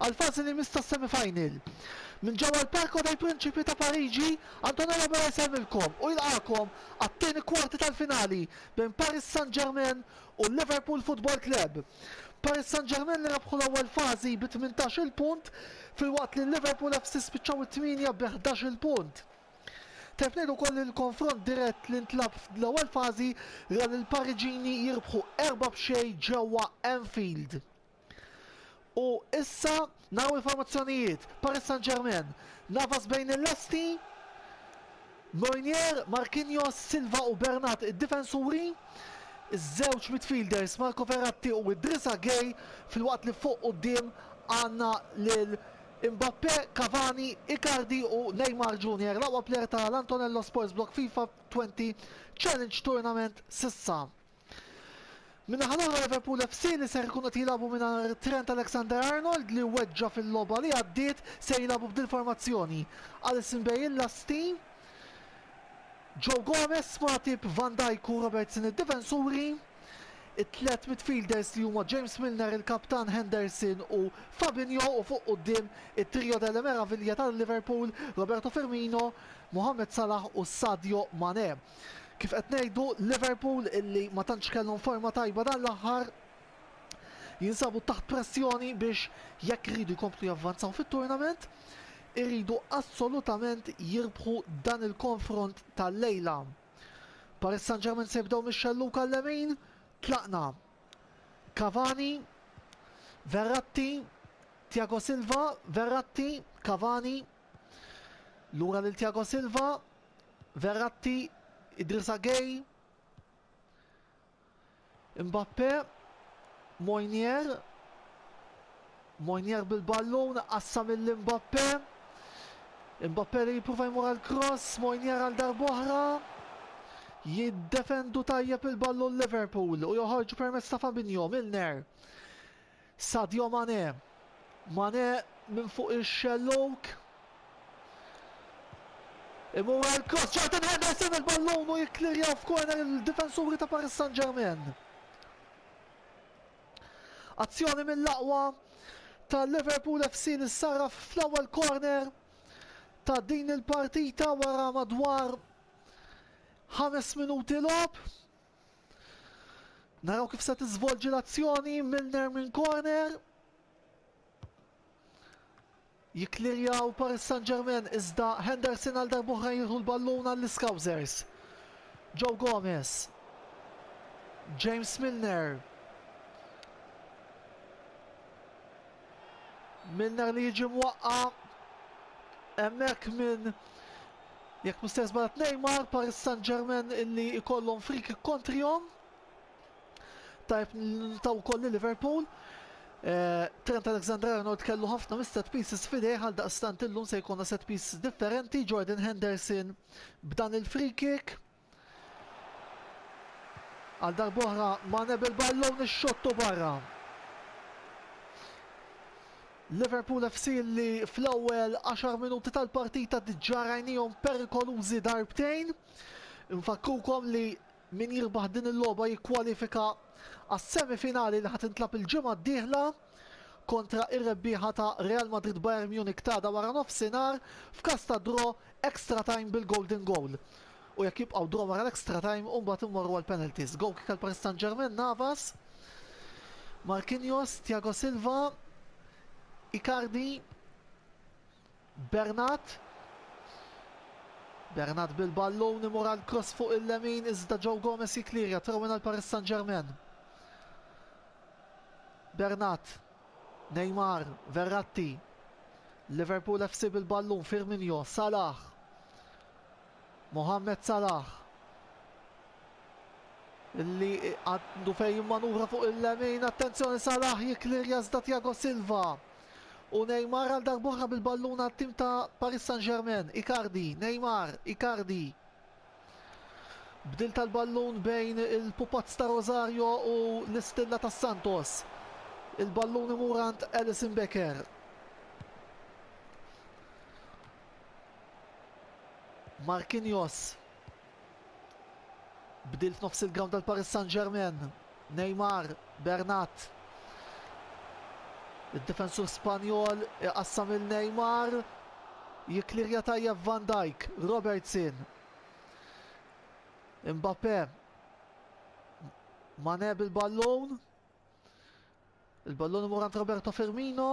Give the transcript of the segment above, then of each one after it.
għall-fażi li jmiss tas-semifinal. Minn ġewwa l-Parco dei Principi ta' Pariġi, Antonio Yebara jsellmilkom u jilqagħkom għat-tieni kwarti tal-finali bejn Paris Saint-Germain u l-Liverpool Football Club. Paris Saint-Germain li rebħu l-ewwel fażi bi tmintax-il punt filwaqt li l-Liverpool FC spiċċaw it-tmienja bi ħdax-il punt. Tajjeb ngħidu wkoll li l-konfront dirett li ntlagħab fl-ewwel fażi ra lill-Pariġini jirbħu erba' b'xejn ġewwa Anfield. U issa naw il-formazzjonijiet. Paris Saint-Germain. Navas bejn il-lesti. Moynier, Marquinhos, Silva u Bernat id-difensuri. Iż-żewġ midfielders Marco Ferratti u Idrissa Gay fil-waqt li fuq quddiem għandna lil Mbappe, Cavani, Icardi u Neymar Junior, l-aqwa player ta' l-Antonello Sports Blog FIFA 20 Challenge Tournament s'issa. Min-naħa l-oħra Liverpool FC li ser ikunu qed jilagħbu mingħajr Trent Alexander-Arnold li weġġa' fil-logħba li għaddiet ser jilagħbu b'dil formazzjoni, Alisson Beale l-asti, Joe Gomez, Matip, Van Dijk u Robertson id-difensuri, it-tliet midfielders li huma James Milner il-kaptan Henderson u Fabinho u fuq quddiem it-trio delle meraviglia ta' Liverpool, Roberto Firmino, Mohamed Salah u Sadio Mane. Kif qed ngħidu, Liverpool illi ma tantx kellhom forma tajba dan l-aħħar, jinsabu taħt pressjoni biex jekk iridu jkomplu javvanzaw fit-tournament, iridu assolutament jirbħu dan il-konfront tal-lejla. Paris Saint-Germain se jibdew mix-xellug għal-lemin, tlaqna. Cavani, Verratti, Thiago Silva, Verratti, Cavani, lura lil Thiago Silva, Verratti, Idrissa Gay, Mbappe, Mojnier, Mojnier bil-ballun, qassam il-Mbappe, Mbappe li jipruva jmur għal cross, Mojnier għal darboħra, jiddefendu tajjeb il-ballun Liverpool u joħorġu permezz ta' Fabinho, Milner, Sadio Mané. Mané minn fuq ix-xellug. Imur għal cross Jordan Henderson il-ballun u jikklirjaw f'korner il-difensuri ta' Paris Saint-Germain. Azzjoni mill-aqwa ta' Liverpool FC li sarraf fl-ewwel corner ta' din il-partita wara madwar ħames minuti logħob. Naraw kif se tiżvolġi l-azzjoni Milner minn corner. Jiklirjaw Paris Saint-Germain iżda Henderson għal darbohra jieħu l-ballun għall-Iskawżers. Joe Gomez. James Milner. Milner li jiġi mwaqqa emmek minn Jekk mhux se żball Neymar, Paris Saint-Germain illi jkollhom free kick kontrihom. Tajb taw ukoll li Liverpool. Eh, Trent Alexander-Arnold kellu ħafna mis-set pieces fidejh għal daqstant illum se jkollna set piece differenti, Jordan Henderson b'dan il-free kick. Għal darb'oħra Mane bil-ballun ix-xott u barra. Liverpool FC li fl-ewwel għaxar minuti tal-partita diġà rajnihom perikolużi darbtejn. Nfakkrukom li min jirbaħ din il-logħba jikkwalifika għas-semifinali li ħa tintlagħab il-ġimgħa d-dieħla. kontra r-rebbieħa ta' Real Madrid-Bayern Munich t'għada waranofsinhar f'każ ta' draw extra time bil-golden goal u jekk jibqgħu draw wara l-extra time u mbagħad immorru għall-penalties. Goal kick għal Paris St-Germain, Navas, Marquinhos, Thiago Silva, Icardi, Bernat. Bernat bil-ballun imur għal cross fuq il-lemin iżda Joe Gomez jikklirja throw-in għal Paris Saint-Germain. Bernat. Neymar, Verratti. Liverpool FC bil-ballun, Firminio, Salah. Mohamed Salah li għandu fejn jimmanuvra fuq il-lemin, attenzjoni Salah jiklirja iżda Thiago Silva. U Neymar għal darbohra bil-ballun għat-tim ta' Paris Saint-Germain, Icardi, Neymar, Icardi. Bdil tal-ballun bejn il-pupazz ta' Rosario u l-istilla ta' Santos. Il-ballun imur għand Alison Becker. Marquinhos. Bdil f'nofs il-ground tal Paris Saint-Germain. Neymar, Bernat. Id-difensur Spanjol iqassam il Neymar. Jiklirja tajjeb Van Dijk, Robertson. Mbappe. Mane bil-ballun. Il-ballun imur għand Roberto Firmino.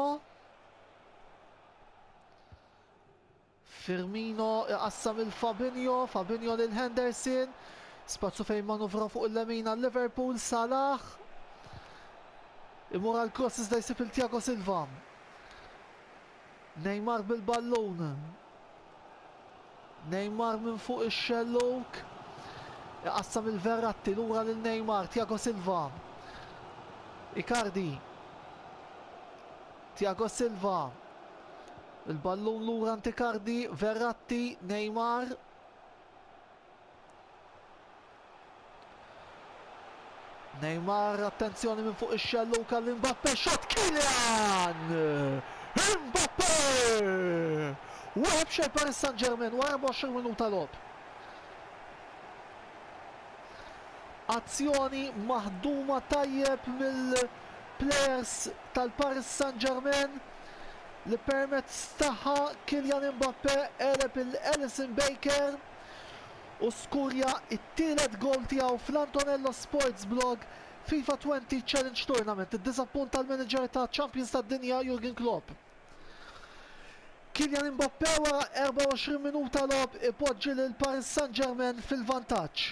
Firmino iqassam il-Fabinho, Fabinho lil Henderson. Spazzu fejn manuvra fuq il-lemin għal Liverpool, Salah. Imur għal cross iżda jsib il-Tiago Silva. Neymar bil-ballun. Neymar minn fuq ix-xellug. Iqassam il Verratti lura lil Neymar, Tiago Silva. Icardi. Tiago Silva. Il-ballun lura anti Icardi, Verratti, Neymar. Neymar, attenzjoni minn fuq ix-xellu kalli Mbappe xot Kylian! Mbappe! Wieħed xejn Paris Saint-Germain wara 24 minuta logħob. Azzjoni maħduma tajjeb mill-players tal-Paris Saint-Germain li permezz tagħha Kylian Mbappé għeleb lil Alisson Becker u skurja t-tielet gowl tiegħu fl-Antonello Sports Blog FIFA Twenty Challenge Tournament iddiżappunta l-manager ta' champions tad-dinja Jurgen Klopp. Kylian Mbappé wara 24 minuta logħob ipoġġi lil Paris Saint-Germain fil-vantaġġ.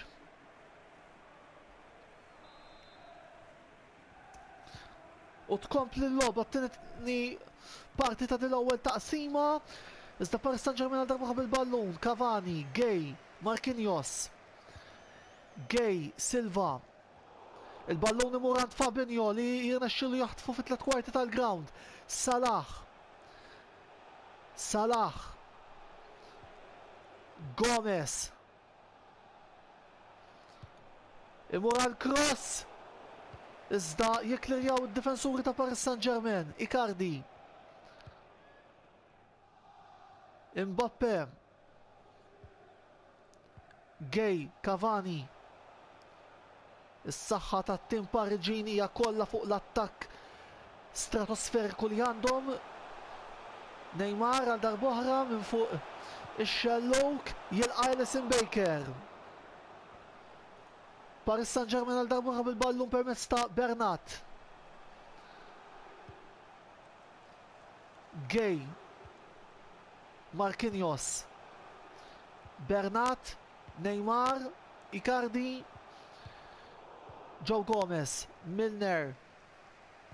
U tkompli l-logħba t-tieni parti ta' din l-ewwel taqsima. Iżda Paris Saint-Germain għal darba bil-ballun, Cavani, Gay, Marquinhos. Gay, Silva. Il-ballun imur għand Fabinho li jirnexxilu jaħtfu fit tlet kwarti tal-ground. Salah. Salah. Gomez. Imur għal cross, iżda jikklirjaw id-difensuri ta' Paris Saint-Germain, Icardi. Mbappe. Gay, Cavani. Is-saħħa tat-tim Pariġin hija kollha fuq l-attakk stratosferiku li għandhom. Neymar għal darb'oħra minn fuq ix-xellug jilqa' Alisson Becker. Paris Saint-Germain għal darb'oħra bil-ballun permezz ta' Bernat. Gay. Marquinhos. Bernat Neymar, Icardi, Joe Gomez, Milner,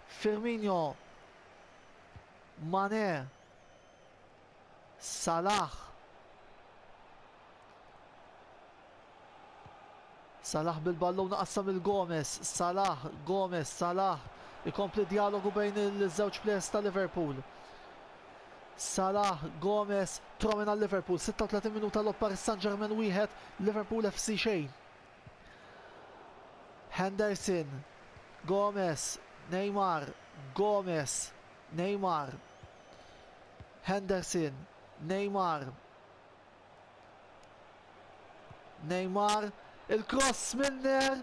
Firmino, Mane, Salah, Salah bil-ballun qassam il-Gomez, Salah, Gomez, Salah, ikompli dialogu bejn il-żewġ plejers ta' Liverpool. Salah, Gomez, Tchouameni għal Liverpool, 36 minuta logħob Paris Saint-Germain wieħed, Liverpool FC xejn. Henderson, Gomez, Neymar, Gomez, Neymar, Henderson, Neymar, Neymar, il-kross Milner,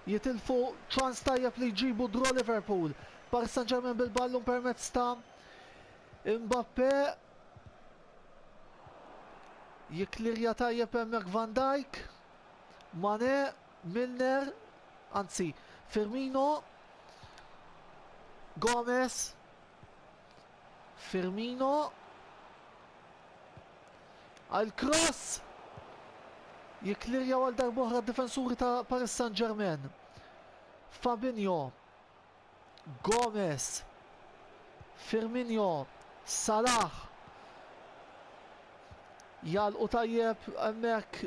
jitilfu ċans tajjeb li jġibu draw Liverpool. Paris Saint-Germain bil-ballun permezz ta' Mbappe. Jiklirja tajjeb hemmhekk Van Dijk. Mane, Milner, anzi Firmino. Gomez. Firmino għal cross jiklirjaw għal darbohra d-difensuri ta' Paris Saint-Germain. Fabinho, Gomez, Firmino, Salah. Jal u tajjeb emmek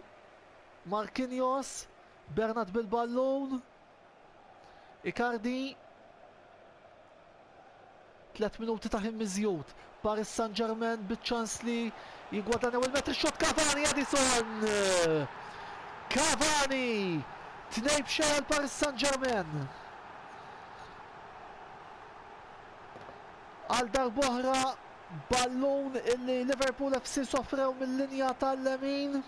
Marquinhos, Bernat bil-ballun. Icardi, tliet minuti ta' ħin miżjud, Paris Saint-Germain biċ-ċans li jigwadanjaw il-metri xot Cavani Edison! Cavani! Tnej b'xejn għal Paris Saint-Germain. Għal darboħra ballun illi Liverpool FC sofrew mill-linja tal-lemin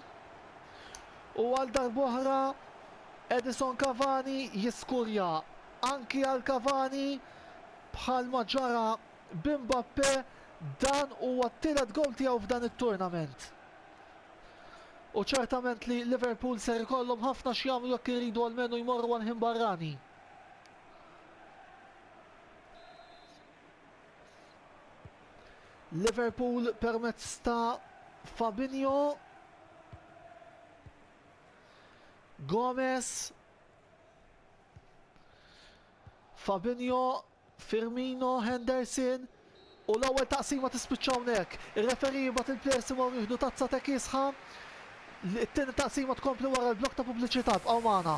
u għal darboħra Edison Cavani jiskurja anki għal Cavani bħalma ġara bi Mbappe dan huwa t-tielet gowl tiegħu f'dan it-tournament. U ċertament li Liverpool ser ikollhom ħafna x'jagħmlu jekk iridu almenu jmorru għal ħin barrani. Liverpool permezz ta' Fabinho Gomez, Fabinho, Firmino, Henderson u l-ewwel taqsima tispiċċa hawnhekk. Ir-referi jibgħat il-plejers imorru jieħdu tazza ta' kiesħa. It-tieni taqsima tkompli wara l-blok ta' pubbliċità bqgħu magħna.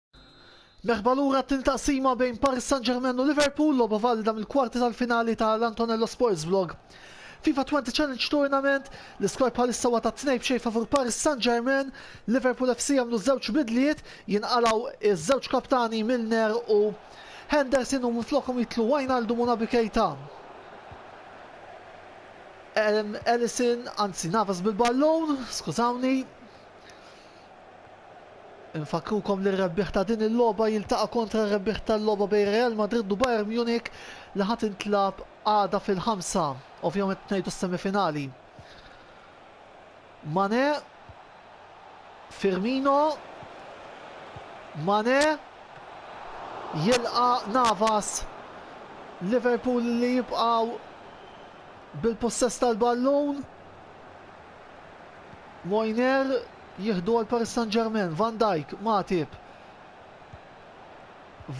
Merħba lura t-tin taqsima bejn Paris Saint-Germain u Liverpool logħba valida mill-kwarti tal-finali ta' l-Antonello Sports Vlog. FIFA 20 Challenge Tournament, l-iskor bħalissa huwa ta' tnej b'xejn favur Paris Saint-Germain, Liverpool FC jagħmlu żewġ bidliet, jinqalgħu iż-żewġ kaptani Milner u Henderson u minflokhom jitlu Wijnaldum u Naby Keita. Ellison, anzi Navas bil-ballon, skużawni, Infakkrukom li r-rebbieħ ta' din il-logħba jiltaqa' kontra r-rebbieħ tal-logħba bejn Real Madrid u Bayern Munich li ħa tintlagħab għada fil-ħamsa. Ovvjament ngħidu s-semifinali. Mane, Firmino, Mane, jilqa' Navas. Liverpool li jibqgħu bil-pussess tal-ballun. Moiner jieħdu għal Paris Saint-Germain, Van Dijk, Matip.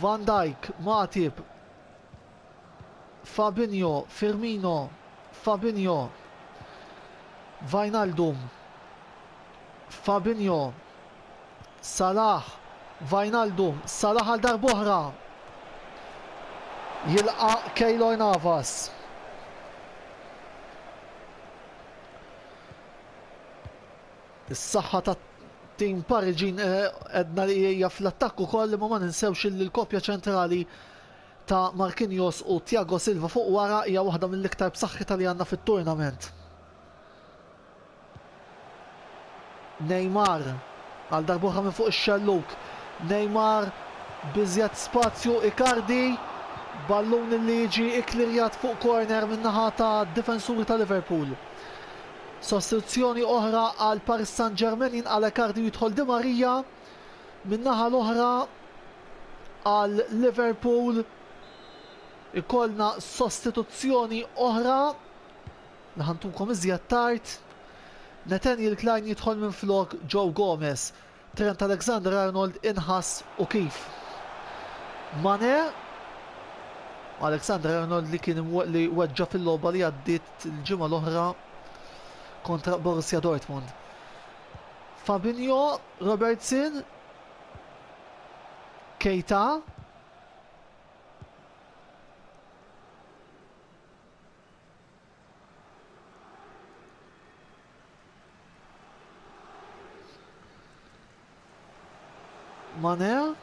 Van Dijk, Matip. Fabinho, Firmino, Fabinho. Vajnaldum, Fabinho, Salah, Vajnaldum, Salah għal darbohra. Jilqa Keylor Navas. Is-saħħa ta' tim Pariġin edna eh, li hija fl-attakk ukoll li ma ninsewx li l-kopja ċentrali ta' Marquinhos u Thiago Silva fuq wara hija waħda mill-iktar b'saħħitha li għandna fit-turnament. Neymar, għal darb'oħra minn fuq ix-xellug, Neymar b'iżjed spazju, Icardi, ballun li jiġi kklirjat fuq corner min-naħa tad-difensuri ta' Liverpool. Sostituzzjoni oħra għal Paris St-Germain jinqala' Icardi u jidħol Di Maria min-naħa l-oħra għal Liverpool ikollna sostituzzjoni oħra. Naħantukom iżjed tard. Nathaniel Klein jidħol minflok Joe Gomez. Trent Alexander-Arnold inħass u kif. Mane Alexander Arnold li kien li weġġa fil-logħba li għaddiet il-ġimgħa l-oħra kontra Borussia Dortmund. Fabinho, Robertson, Keita, Mane.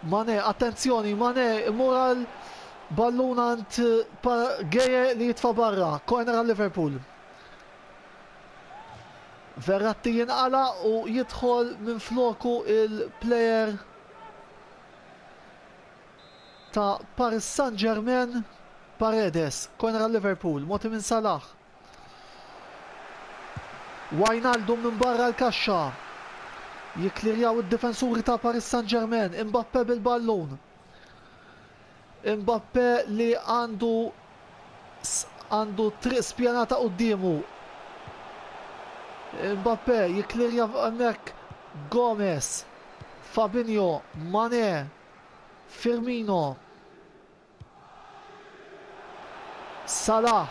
Mane, attenzjoni, Mane, moral ballunant pa Geje li jitfa barra, corner għal Liverpool. Verratti jinqala u jidħol minn floku il-player ta' Paris Saint-Germain, Paredes, corner għal Liverpool, mogħti minn Salah. Wijnaldum minn barra l-kaxxa. Jikklirjaw id-difensuri ta' Paris Saint-Germain, Mbappe bil-ballun. Mbappe li għandu għandu triq spjanata qoddiemu. Mbappe jiklirja hemmhekk Gomez, Fabinho, Mane, Firmino. Salah.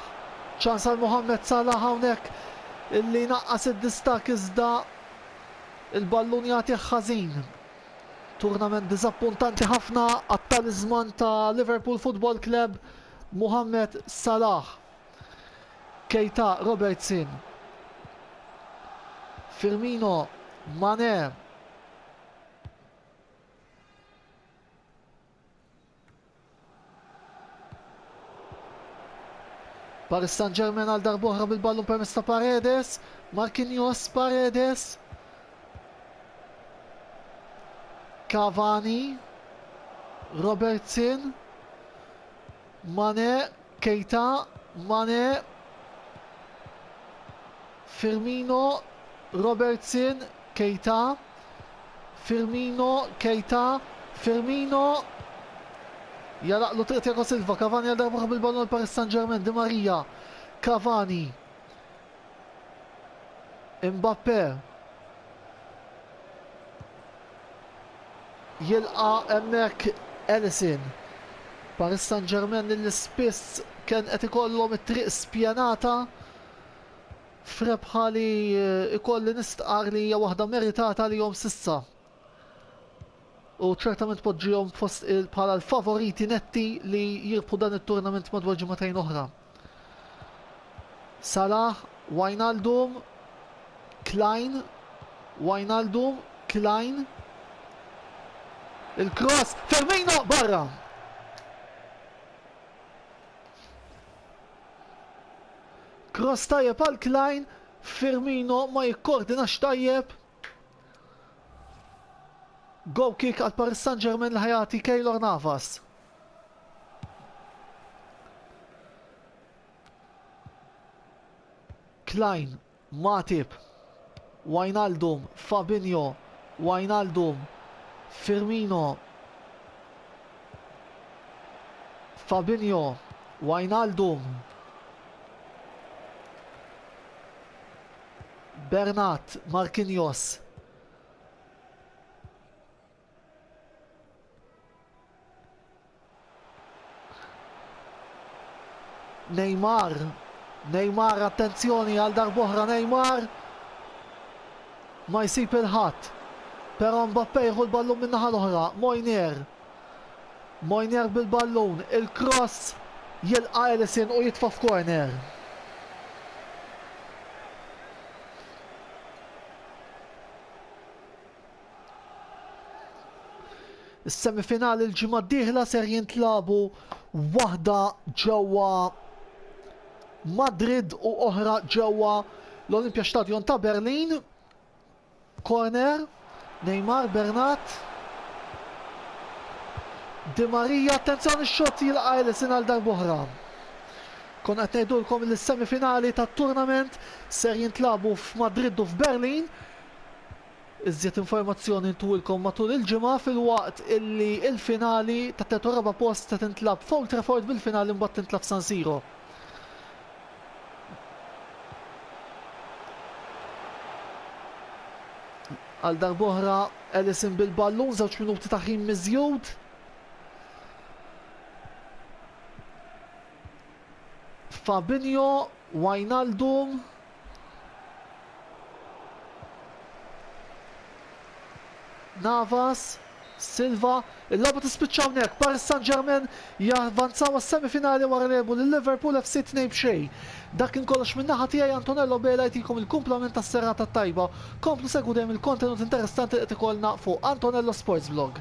Ċans għal Mohamed Salah hawnhekk illi naqqas id-distak iżda il-ballun jagħtih ħażin. Turnament diżappuntanti ħafna għat-taliżman ta' Liverpool Football Club, Mohamed Salah. Keita Robertson. Firmino Mane. Paris Saint-Germain għal darbohra bil-ballun permezz ta' Paredes, Marquinhos Paredes. Cavani, Robertson, Mane, Keita, Mane, Firmino, Robertson, Keita, Firmino, Keita, Firmino, jalaqlu triq Tiago Silva, Cavani għal darba bil-ballon għal Paris Saint-Germain, Di Maria, Cavani, Mbappe jilqa' hemmhekk Alisson. Paris Saint-Germain li spiss kien qed ikollhom it-triq spjenata f'rebħa li jkolli nistqarr li hija waħda meritata għalihom s'issa. U ċertament poġġihom fost bħala l-favoriti netti li jirbħu dan it-turnament madwar ġimagħtejn oħra. Salah, Wijnaldum, Klein, Wijnaldum, Klein, il-cross, Firmino, barra! Cross tajjeb għal Klein, Firmino ma jikkordinax tajjeb. Go kick għal Paris Saint-Germain li ħajati Keylor Navas. Klein, Matip, Wijnaldum, Fabinho, Wijnaldum, Firmino, Fabinho, Wijnaldum, Bernat, Marquinhos, Neymar, Neymar attenzjoni għal darb'oħra Neymar ma jsib il-ħadd. Però Mbappe jieħu l-ballun min-naħa l-oħra, Mojnier. Mojnier bil-ballun, il-cross jilqa' Ellison u jitfa' f'corner. Is-semifinali l-ġimgħa d-dieħla ser jintlabu waħda ġewwa Madrid u oħra ġewwa l-Olympia Stadion ta' Berlin. Corner, Neymar, Bernat. Di Maria, attenzjoni x-xot jilqa' Ellison għal darbohra. Kon qed ngħidulkom li s-semifinali tat-turnament ser jintlabu f'Madrid u f'Berlin. Iżjed informazzjoni ntulkom matul il-ġimgħa filwaqt illi il-finali tat-tielet u r-raba' post se tintlagħab f'Old Trafford bil-finali mbagħad tintlagħab f'San Siro. Għal darb'oħra Ellison bil-ballun żewġ minuti ta' ħin miżjud. Fabinho, Wijnaldum, Navas, Silva, il-logħba tispiċċa hawnhekk, Paris Saint-Germain javvanzaw għas-semifinali wara li għelbu lil Liverpool FC tnejn b'xejn. Dak kien kollox minn naħa tiegħi Antonello Bela jtikom il-kumplament tas-serata t-tajba. Komplu segwu dejjem il-kontenut interessanti li qed ikollna fuq AntonelloSportsBlog.